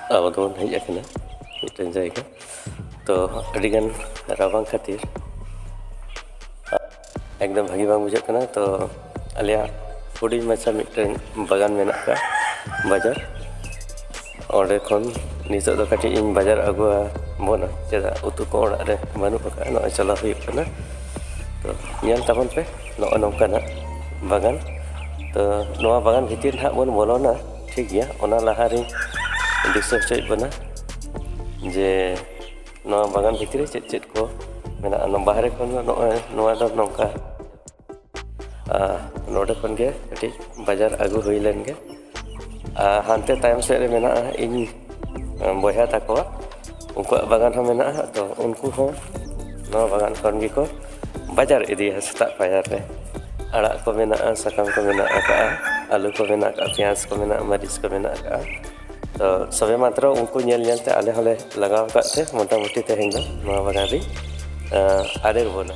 ᱟᱵᱚ ᱫᱚᱵᱚᱱ ᱦᱮᱡ ᱟᱠᱟᱱᱟ ᱢᱤᱫᱴᱮᱱ ᱡᱟᱭᱜᱟ ᱛᱚ ᱟᱹᱰᱤᱜᱟᱱ ᱨᱟᱵᱟᱝ ᱠᱷᱟᱹᱛᱤᱨ ᱮᱠᱫᱚᱢ ᱵᱷᱟᱹᱜᱤ ᱵᱟᱝ ᱵᱩᱡᱷᱟᱹᱜ ᱠᱟᱱᱟ ᱛᱚ ᱟᱞᱮᱭᱟᱜ ᱦᱩᱰᱤᱧ ᱢᱟᱪᱷᱟ ᱢᱤᱫᱴᱮᱱ ᱵᱟᱜᱟᱱ ᱢᱮᱱᱟᱜ ᱟᱠᱟᱫ ᱵᱟᱡᱟᱨ ᱚᱸᱰᱮ ᱠᱷᱚᱱ ᱱᱤᱛᱚᱜ ᱫᱚ ᱠᱟᱹᱴᱤᱡ ᱤᱧ ᱵᱟᱡᱟᱨ ᱟᱹᱜᱩ ᱵᱚᱱᱟ ᱪᱮᱫᱟᱜ ᱩᱛᱩ ᱠᱚ ᱚᱲᱟᱜ ᱨᱮ ᱵᱟᱹᱱᱩᱜ ᱟᱠᱟᱫᱼᱟ ᱱᱚᱜᱼᱚᱭ ᱪᱟᱞᱟᱣ ᱦᱩᱭᱩᱜ ᱠᱟᱱᱟ ᱛᱚ ᱧᱮᱞ ᱛᱟᱵᱚᱱ ᱯᱮ ᱱᱚᱜᱼᱚᱭ ᱱᱚᱝᱠᱟᱱᱟᱜ ᱵᱟᱜᱟᱱ ᱛᱚ ᱱᱚᱣᱟ ᱵᱟᱜᱟᱱ ᱵᱷᱤᱛᱤᱨ ᱱᱟᱦᱟᱜ ᱵᱚᱱ ᱵᱚᱞᱚᱱᱟ ᱴᱷᱤᱠ ᱜᱮᱭᱟ ᱚᱱᱟ ᱞᱟᱦᱟᱨᱮᱧ ᱫᱤᱥᱟᱹ ᱦᱚᱪᱚᱭᱮᱫ ᱵᱚᱱᱟ ᱡᱮ ᱱᱚᱣᱟ ᱵᱟᱜᱟᱱ ᱵᱷᱤᱛᱨᱤ ᱪᱮᱫ ᱪᱮᱫ ᱠᱚ ᱢᱮᱱᱟᱜᱼᱟ ᱱᱚᱣᱟ ᱵᱟᱦᱨᱮ ᱠᱷᱚᱱ ᱫᱚ ᱱᱚᱜᱼᱚᱭ ᱱᱚᱣᱟ ᱫᱚ ᱱᱚᱝᱠᱟ ᱱᱚᱰᱮ ᱠᱷᱚᱱ ᱜᱮ ᱠᱟᱹᱴᱤᱡ ᱵᱟᱡᱟᱨ ᱟᱹᱜᱩ ᱦᱩᱭ ᱞᱮᱱ ᱜᱮ ᱦᱟᱱᱛᱮ ᱛᱟᱭᱚᱢ ᱥᱮᱫ ᱨᱮ ᱢᱮᱱᱟᱜᱼᱟ ᱤᱧ ᱵᱚᱭᱦᱟ ᱛᱟᱠᱚᱣᱟ ᱩᱱᱠᱩᱣᱟᱜ ᱵᱟᱜᱟᱱ ᱦᱚᱸ ᱢᱮᱱᱟᱜᱼᱟ ᱛᱚ ᱩᱱᱠᱩ ᱦᱚᱸ ᱱᱚᱣᱟ ᱵᱟᱜᱟᱱ ᱠᱷᱚᱱ ᱜᱮᱠᱚ ᱵᱟᱡᱟᱨ ᱤᱫᱤᱭᱟ ᱥᱮᱛᱟᱜ ᱯᱟᱭᱟᱨ ᱨᱮ ᱟᱲᱟᱜ ᱠᱚ ᱢᱮᱱᱟᱜᱼᱟ ᱥᱟᱠᱟᱢ ᱠᱚ ᱢᱮᱱᱟᱜ ᱟᱠᱟᱜᱼᱟ ᱟᱹᱞᱩ ᱠᱚ ᱢᱮᱱᱟᱜ ᱟᱠᱟᱜᱼᱟ ᱯᱮᱸᱭᱟᱡᱽ ᱠᱚ ᱢᱮᱱᱟᱜᱼᱟ ᱢᱟᱹᱨᱤᱪ ᱠᱚ ᱢᱮᱱᱟᱜ ᱟᱠᱟᱜᱼᱟ ᱛᱚ ᱥᱚᱵᱮ ᱢᱟᱛᱨᱚ ᱩᱱᱠᱩ ᱧᱮᱞ ᱧᱮᱞ ᱛᱮ ᱟᱞᱮ ᱦᱚᱸᱞᱮ ᱞᱟᱜᱟᱣ ᱟᱠᱟᱫ ᱛᱮ ᱢᱳᱴᱟᱢᱩᱴᱤ ᱛᱮᱦᱮᱧ ᱫᱚ ᱱᱚᱣᱟ ᱵᱟᱜᱟᱱ ᱨᱤᱧ ᱟᱨᱮᱲ ᱵᱚᱱᱟ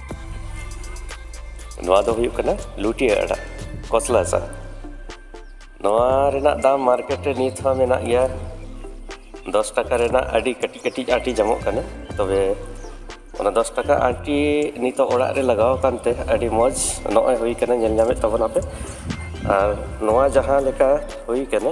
ᱱᱚᱣᱟ ᱫᱚ ᱦᱩᱭᱩᱜ ᱠᱟᱱᱟ ᱞᱩᱴᱤᱭᱟᱹ ᱟᱲᱟᱜ ᱠᱚᱥᱞᱟ ᱥᱟ ᱱᱚᱣᱟ ᱨᱮᱱᱟᱜ ᱫᱟᱢ ᱢᱟᱨᱠᱮᱴ ᱨᱮ ᱱᱤᱛ ᱦᱚᱸ ᱢᱮᱱᱟᱜ ᱜᱮᱭᱟ ᱫᱚᱥ ᱴᱟᱠᱟ ᱨᱮᱱᱟᱜ ᱟᱹᱰᱤ ᱠᱟᱹᱴᱤᱡ ᱠᱟᱹᱴᱤᱡ ᱟᱹᱴᱤ ᱧᱟᱢᱚᱜ ᱠᱟᱱᱟ ᱛᱚᱵᱮ ᱚᱱᱟ ᱫᱚᱥ ᱴᱟᱠᱟ ᱟᱹᱴᱤ ᱱᱤᱛᱚᱜ ᱚᱲᱟᱜ ᱨᱮ ᱞᱟᱜᱟᱣ ᱟᱠᱟᱱᱛᱮ ᱟᱹᱰᱤ ᱢᱚᱡᱽ ᱱᱚᱜᱼᱚᱭ ᱦᱩᱭ ᱠᱟᱱᱟ ᱧᱮᱞ ᱧᱟᱢᱮᱫ ᱛᱟᱵᱚᱱᱟᱯᱮ ᱟᱨ ᱱᱚᱣᱟ ᱡᱟᱦᱟᱸ ᱞᱮᱠᱟ ᱦᱩᱭ ᱠᱟᱱᱟ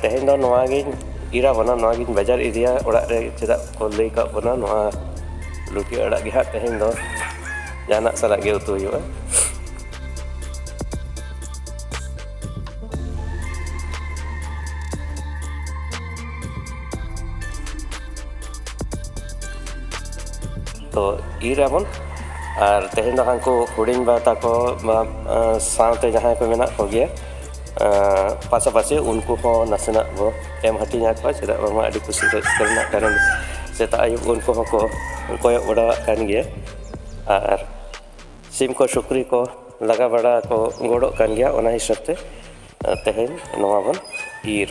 ᱛᱮᱦᱮᱧ ᱫᱚ ᱱᱚᱣᱟ ᱜᱤᱧ ᱤᱨᱟ ᱵᱚᱱᱟ ᱱᱚᱣᱟ ᱜᱤᱧ ᱵᱟᱡᱟᱨ ᱤᱫᱤᱭᱟ ᱚᱲᱟᱜ ᱨᱮ ᱪᱮᱫᱟᱜ ᱠᱚ ᱞᱟᱹᱭ ᱠᱟᱜ ᱵᱚᱱᱟ ᱱᱚᱣᱟ ᱞᱩᱴᱤ ᱟᱲᱟᱜ ᱜᱮ ᱦᱟᱸᱜ ᱛᱮᱦᱮᱧ ᱫᱚ ᱡᱟᱦᱟᱱᱟᱜ ᱥᱟᱞᱟᱜ ᱜᱮ ᱩᱛᱩ ᱦᱩᱭᱩᱜᱼᱟ ᱛᱚ ᱤᱨ ᱟᱵᱚᱱ ᱟᱨ ᱛᱮᱦᱮᱧ ᱫᱚ ᱦᱟᱹᱱᱠᱩ ᱦᱩᱰᱤᱧ ᱵᱟ ᱛᱟᱠᱚ ᱥᱟᱶᱛᱮ ᱡᱟᱦᱟᱸᱭ ᱠᱚ ᱢᱮᱱᱟᱜ ᱠᱚᱜᱮᱭᱟ ᱯᱟᱥᱟᱯᱟᱥᱤ ᱩᱱᱠᱩ ᱦᱚᱸ ᱱᱟᱥᱮᱱᱟᱜ ᱵᱚ ᱮᱢ ᱦᱟᱹᱴᱤᱧ ᱟᱠᱚᱣᱟ ᱪᱮᱫᱟᱜ ᱵᱟᱝᱢᱟ ᱟᱹᱰᱤ ᱠᱩᱥᱤ ᱨᱟᱹᱥᱠᱟᱹ ᱨᱮᱱᱟᱜ ᱠᱟᱨᱚᱱ ᱥᱮᱛᱟᱜ ᱟᱹᱭᱩᱵ ᱩᱱᱠᱩ ᱦᱚᱸᱠᱚ ᱠᱚᱭᱚᱜ ᱵᱟᱲᱟᱣᱟᱜ ᱠᱟᱱ ᱜᱮᱭᱟ ᱟᱨ ᱥᱤᱢ ᱠᱚ ᱥᱩᱠᱨᱤ ᱠᱚ ᱞᱟᱜᱟ ᱵᱟᱲᱟ ᱠᱚ ᱜᱚᱲᱚᱜ ᱠᱟᱱ ᱜᱮᱭᱟ ᱚᱱᱟ ᱦᱤᱥᱟᱹᱵ ᱛᱮ ᱛᱮᱦᱮᱧ ᱱᱚᱣᱟ ᱵᱚᱱ ᱤᱨᱻ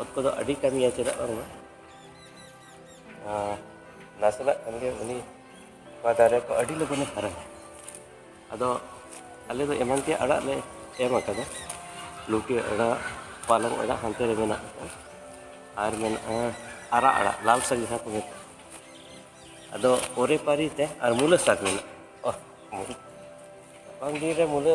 ᱚᱛ ᱠᱚᱫᱚ ᱟᱹᱰᱤ ᱠᱟᱹᱢᱤᱭᱟ ᱪᱮᱫᱟᱜ ᱵᱟᱝᱢᱟ ᱱᱟᱥᱮᱱᱟᱜ ᱠᱷᱟᱱ ᱜᱮ ᱩᱱᱤ ᱱᱚᱣᱟ ᱫᱟᱨᱮ ᱠᱚ ᱟᱹᱰᱤ ᱞᱚᱜᱚᱱᱮ ᱦᱟᱨᱟᱭᱟ ᱟᱫᱚ ᱟᱞᱮ ᱫᱚ ᱮᱢᱟᱱ ᱛᱮᱭᱟᱜ ᱟᱲᱟᱜ ᱞᱮ ᱮᱢ ᱟᱠᱟᱫᱟ ᱞᱩᱴᱤ ᱟᱲᱟᱜ ᱯᱟᱞᱚᱝ ᱟᱲᱟᱜ ᱦᱟᱱᱛᱮ ᱨᱮ ᱢᱮᱱᱟᱜ ᱟᱠᱟᱫᱟ ᱟᱨ ᱢᱮᱱᱟᱜᱼᱟ ᱟᱨᱟᱜ ᱟᱲᱟᱜ ᱞᱟᱞ ᱥᱟᱜ ᱡᱟᱦᱟᱸ ᱠᱚ ᱢᱮᱛᱟᱜᱼᱟ ᱟᱫᱚ ᱯᱚᱨᱮ ᱯᱟᱹᱨᱤ ᱛᱮ ᱟᱨ ᱢᱩᱞᱟᱹ ᱥᱟᱠ ᱢᱮᱱᱟᱜᱼᱟ ᱨᱟᱵᱟᱝ ᱫᱤᱱ ᱨᱮ ᱢᱩᱞᱟᱹ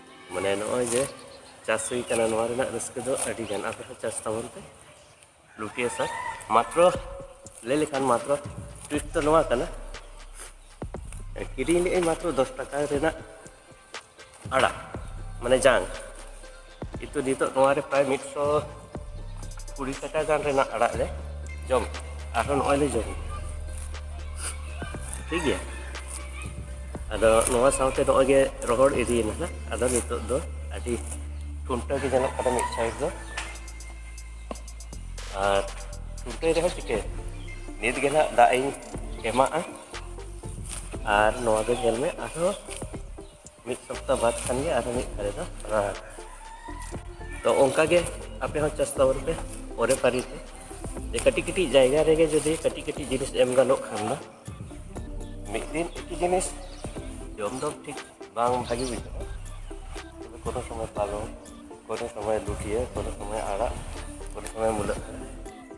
ᱢᱟᱱᱮ ᱱᱚᱜᱼᱚᱭ ᱡᱮ ᱪᱟᱥ ᱦᱩᱭ ᱠᱟᱱᱟ ᱱᱚᱣᱟ ᱨᱮᱱᱟᱜ ᱨᱟᱹᱥᱠᱟᱹ ᱫᱚ ᱟᱹᱰᱤ ᱜᱟᱱ ᱟᱯᱮ ᱯᱮ ᱪᱟᱥ ᱛᱟᱵᱚᱱ ᱯᱮ ᱞᱩᱴᱤᱭᱟ ᱥᱟᱨ ᱢᱟᱛᱨᱚ ᱞᱟᱹᱭ ᱞᱮᱠᱷᱟᱱ ᱢᱟᱛᱨᱚ ᱴᱩᱭᱤᱴ ᱫᱚ ᱱᱚᱣᱟ ᱠᱟᱱᱟ ᱠᱤᱨᱤᱧ ᱞᱮᱜᱼᱟᱹᱧ ᱢᱟᱛᱨᱚ ᱫᱚᱥ ᱴᱟᱠᱟ ᱨᱮᱱᱟᱜ ᱟᱲᱟᱜ ᱢᱟᱱᱮ ᱡᱟᱝ ᱠᱤᱱᱛᱩ ᱱᱤᱛᱚᱜ ᱱᱚᱣᱟᱨᱮ ᱯᱨᱟᱭ ᱢᱤᱫᱥᱚ ᱠᱩᱲᱤ ᱴᱟᱠᱟ ᱜᱟᱱ ᱨᱮᱱᱟᱜ ᱟᱲᱟᱜ ᱞᱮ ᱡᱚᱢ ᱟᱨᱦᱚᱸ ᱱᱚᱜᱼᱚᱭ ᱞᱮ ᱡᱚᱢ ᱴᱷᱤᱠ ᱜᱮᱭᱟ ᱟᱫᱚ ᱱᱚᱣᱟ ᱥᱟᱶᱛᱮ ᱱᱚᱜᱼᱚᱭ ᱜᱮ ᱨᱚᱦᱚᱲ ᱤᱫᱤᱭᱮᱱᱟ ᱦᱟᱸᱜ ᱟᱫᱚ ᱱᱤᱛᱚᱜ ᱫᱚ ᱟᱹᱰᱤ ᱴᱩᱱᱴᱟᱹ ᱜᱮ ᱧᱮᱞᱚᱜ ᱠᱟᱱᱟ ᱢᱤᱫ ᱥᱟᱭᱤᱰ ᱫᱚ ᱟᱨ ᱴᱩᱱᱴᱟᱹᱭ ᱨᱮᱦᱚᱸ ᱪᱤᱠᱟᱹᱭᱟ ᱱᱤᱛ ᱜᱮ ᱱᱟᱜ ᱫᱟᱜ ᱤᱧ ᱮᱢᱟᱜᱼᱟ ᱟᱨ ᱱᱚᱣᱟ ᱫᱚ ᱧᱮᱞ ᱢᱮ ᱟᱨᱦᱚᱸ ᱢᱤᱫ ᱥᱚᱯᱛᱟ ᱵᱟᱫ ᱠᱷᱟᱱ ᱜᱮ ᱟᱨᱦᱚᱸ ᱢᱤᱫ ᱫᱷᱟᱨᱮ ᱫᱚ ᱨᱟᱲᱟ ᱛᱚ ᱚᱱᱠᱟ ᱜᱮ ᱟᱯᱮ ᱦᱚᱸ ᱪᱟᱥ ᱛᱟᱵᱚᱱ ᱯᱮ ᱯᱚᱨᱮ ᱯᱟᱹᱨᱤ ᱛᱮ ᱡᱮ ᱠᱟᱹᱴᱤᱡ ᱠᱟᱹᱴᱤᱡ ᱡᱟᱭᱜᱟ ᱨᱮᱜᱮ ᱡᱩᱫᱤ ᱠᱟᱹᱴᱤᱡ ᱠᱟᱹᱴᱤᱡ ᱡᱤᱱᱤᱥ ᱮᱢ ᱜᱟᱱᱚᱜ ᱠᱷᱟᱱ ᱫᱚ ᱢᱤᱫ ᱫᱤᱱ ᱮᱠᱤ ᱡᱤᱱᱤᱥ ᱡᱚᱢ ᱫᱚ ᱴᱷᱤᱠ ᱵᱟᱝ ᱵᱷᱟᱜᱮ ᱵᱩᱡᱷᱟᱹᱜᱼᱟ ᱛᱚᱵᱮ ᱠᱳᱱᱳ ᱥᱚᱢᱚᱭ ᱯᱟᱞᱚᱝ ᱠᱳᱱᱳ ᱥᱚᱢᱚᱭ ᱞᱩᱴᱤᱭᱟᱹ ᱠᱳᱱᱳ ᱥᱚᱢᱚᱭ ᱟᱲᱟᱜ ᱠᱳᱱᱳ ᱥᱚᱢᱚᱭ ᱢᱩᱞᱟᱹ ᱟᱲᱟᱜ